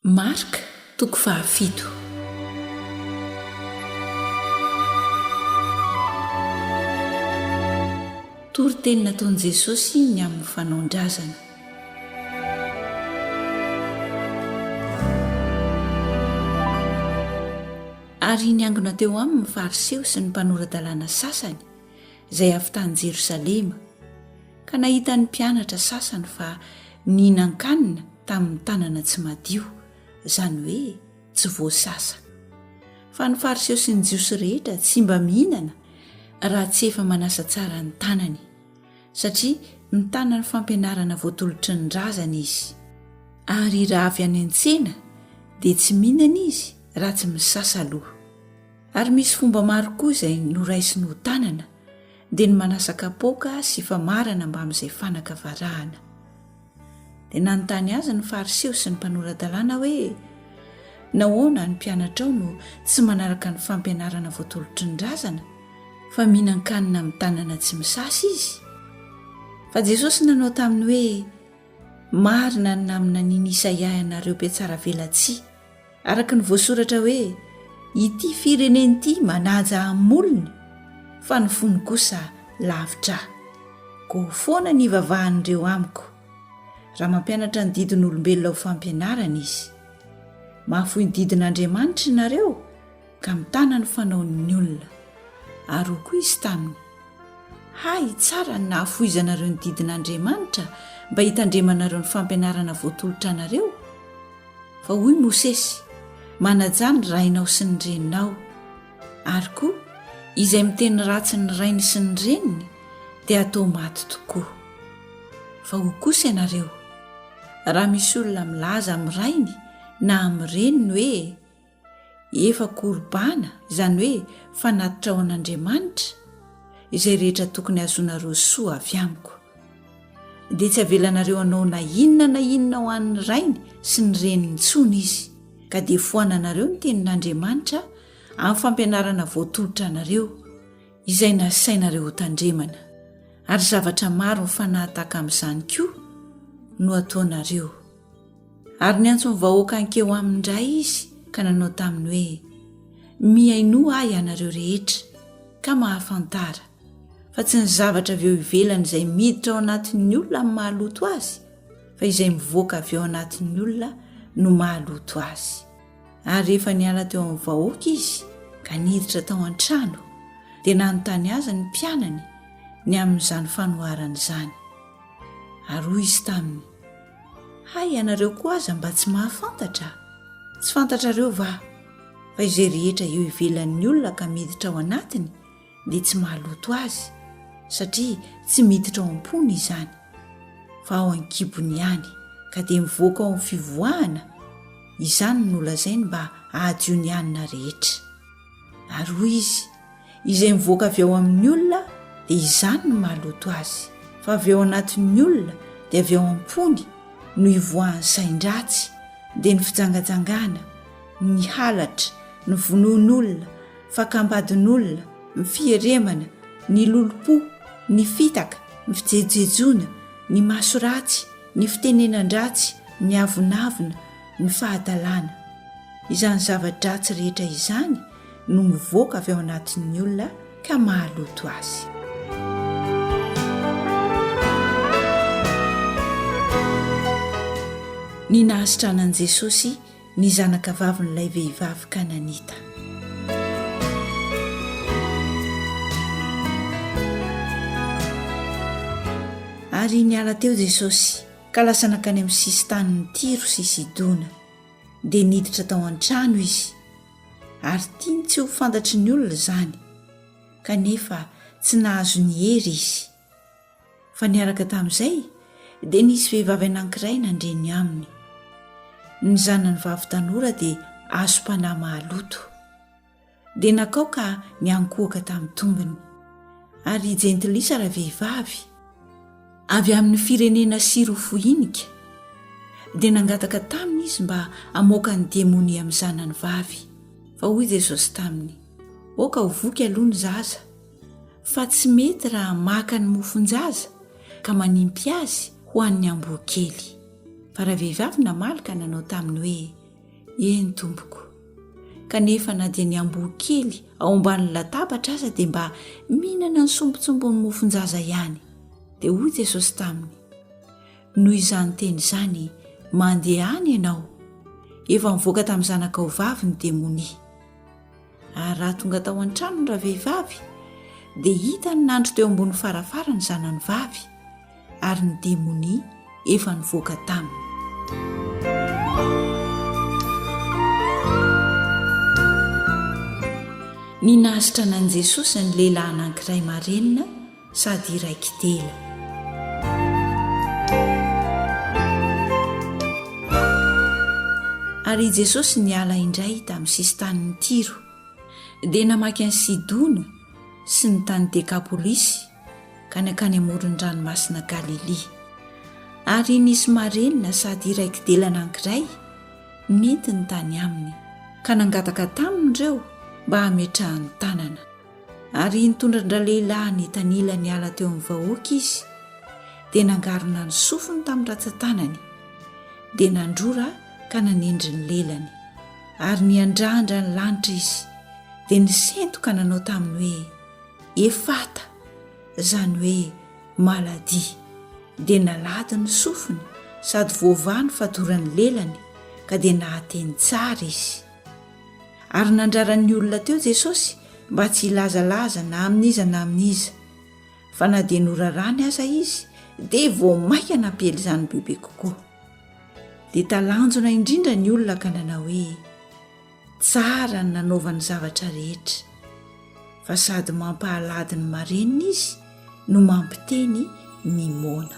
Marc toko fahafito. Toriteny nataon'i Jesosy ny amin'ny fanaon-drazana. Ary niangona teo aminy ny Fariseo sy ny mpanora-dalàna sasany, izay avy tany Jerosalema, ka nahita ny mpianatra sasany fa nihinan-kanina tamin'ny tanana tsy madio, izany hoe tsy voasasa. Fa ny Fariseo sy ny Jiosy rehetra tsy mba mihinana raha tsy efa manasa tsara ny tanany, satria mitana ny fampianarana voatolotry ny razana izy. Ary raha avy any an-tsena, dia tsy mihinana izy raha tsy misasa aloha. Ary misy fomba maro koa izay noraisiny ho tanana, dia ny manasa kapoaka sy famarana mbamin'izay fanaka varahana. Dia nanontany azy ny Fariseo sy ny mpanora-dalàna hoe, Nahoana ny mpianatrao no tsy manaraka ny fampianarana voatolotry ny razana, fa mihinan-kanina amin'ny tanana tsy misasa izy? Fa Jesosy nanao taminy hoe, Marina ny naminanian'i Isaia ianareo mpihatsaravelatsihy, araka ny voasoratra hoe ity firenena ity manaja amin'ny molony fa ny fony kosa lavitra ahy go foana ny ivavahan'ireo amiko raha mampianatra ny didin'olombelona ho fampianarana izy mahafoy ny didin'andriamanitra ianareo ka mitana ny fanaon'ny olona. Ary hoy koa izy taminy, Hay tsara ny nahafohizanareo ny didin'Andriamanitra mba hitandremanareo ny fampianarana voatolotra anareo. Fa hoy Mosesy, Manajà ny rainao sy ny reninao. Ary koa, izay miteny ratsy ny rainy sy ny reniny dia hatao maty tokoa. Fa hoy kosa ianareo, Raha misy olona milaza amin'ny rainy na amin'ny reniny hoe, Efa Korban, izany hoe fanatitra ho an'Andriamanitra, izay rehetra tokony hahazoanareo soa avy amiko. Dia tsy avelanareo hanao na inona na inona ho an'ny rainy sy ny reniny intsony izy, ka dia foananareo ny tenin'Andriamanitra amin'ny fampianarana voatolotra anareo, izay nasainareo hotandremana. Ary zavatra maro mifanahataka amin'izany koa no ataonareo. Ary niantso ny vahoaka hankeo aminy indray izy ka nanao taminy hoe, Mihainoa ahy ianareo rehetra, ka mahafantara, fa tsy ny zavatra avy eo ivelany izay miditra ao anatin'ny olona no mahaloto azy, fa izay mivoaka avy ao anatin'ny olona no mahaloto azy. Ary rehefa niala teo amin'ny vahoaka izy ka niditra tao an-trano, dia nanontany azy ny mpianany ny amin'izany fanoharana izany. Ary hoy izy taminy, Hay ianareo koa aza mba tsy mahafantatra? Tsy fantatrareo va fa izay rehetra eo ivelan'ny olona ka miditra ao anatiny dia tsy mahaloto azy satria tsy miditra ao am-pony izany fa ao an-kibony ihany ka dia mivoaka ao amin'ny fivoahana izany no lazainy mba hahadio ny hanina rehetra. Ary hoy izy, Izay mivoaka avy ao amin'ny olona dia izany no maloto azy, fa avy ao anatin'ny olona dia avy ao am-pony no ivoahan'ny sain-dratsy, dia ny fijangajangana, ny halatra, ny vonoan'olona, fakam-badin'olona, ny fieremana, ny lolompo, ny fitaka, ny fijejojejoana, ny maso ratsy, ny fitenenan-dratsy, ny avonavona, ny fahadalana. Izany zava-dratsy rehetra izany no mivoaka avy ao anatin'ny olona ka mahaloto azy. Ny nahasitranan'i Jesosy ny zanakavavin'ilay vehivavy kananita. Ary niala teo Jesosy. Ka lasa nankany amin'ny sisin-tanin'i Tyro sy Sidona. Dia niditra tao an-trano izy, ary tiany tsy ho fantatry ny olona izany, kanefa tsy nahazo ny hery izy. Fa niaraka tamin'izay, dia nisy vehivavy anankiray nandre ny aminy. Ny zanany vavy tanora dia azom-panahy mahaloto. dia nakao ka niankohoka tamin'ny tongony. Ary jentilisa ravehivavy, avy amin'ny firenena Syro-Foinika, dia nangataka taminy izy mba hamoaka ny demonia amin'ny zanany vavy. Fa hoy Jesosy taminy, Aoka ho voky aloha ny zaza, fa tsy mety raha maka ny mofon-jaza ka manimpy azy ho an'ny amboa kely. Fa ravehivavy namaly ka nanao taminy hoe, Eny tompoko. Kanefa na dia ny amboa kely ao ambanin'ny latabatra aza dia mba mihinana ny sombintsombin'ny mofon-jaza ihany. Dia hoy Jesosy taminy, Noho izany teny izany, mandeha any ianao. Efa nivoaka tamin'ny zanakao vavy ny demonia. Ary raha tonga tao an-trano ny ravehivavy, dia hitany nandry teo ambony farafara ny zanany vavy. ary ny demonia efa nivoaka taminy. Ny nahasitrana an'i Jesosy ny lehilahy anankiray marenina sady iray kintela. Ary i Jesosy niala indray tamin'ny sisin-tanin'i Tiro, dia namaky an'i Sidona sy ny tany Dekapolisy, ka nankany amoron'ny ranomasina Galilia. Ary nisy marenina sady iray kidelana ankiray nentiny tany aminy, ka nangataka taminy ireo mba hametrahany tanana. Ary nitondra an-dralehilahy nitanila niala teo amin'ny vahoaka izy, dia nangarona ny sofiny tamin'ny ratsan-tanany, dia nandrora ka nanendry ny lelany. Ary niandrandra ny lanitra izy, dia nisento ka nanao taminy hoe, Efata, izany hoe maladie, dia nalady ny sofiny sady voavaha ny fadoran'ny lelany ka dia nahateny tsara izy. Ary nandrara ny olona teo Jesosy mba tsy hilazalaza na amin'iza na amin'iza. Fa na dia norarany aza izy dia vao mainka nampiely izany bebe kokoa. Dia talanjona indrindra ny olona ka nanao hoe. Tsara ny nanaovany zavatra rehetra, fa sady mampahalady ny marenina izy no mampiteny ny moana.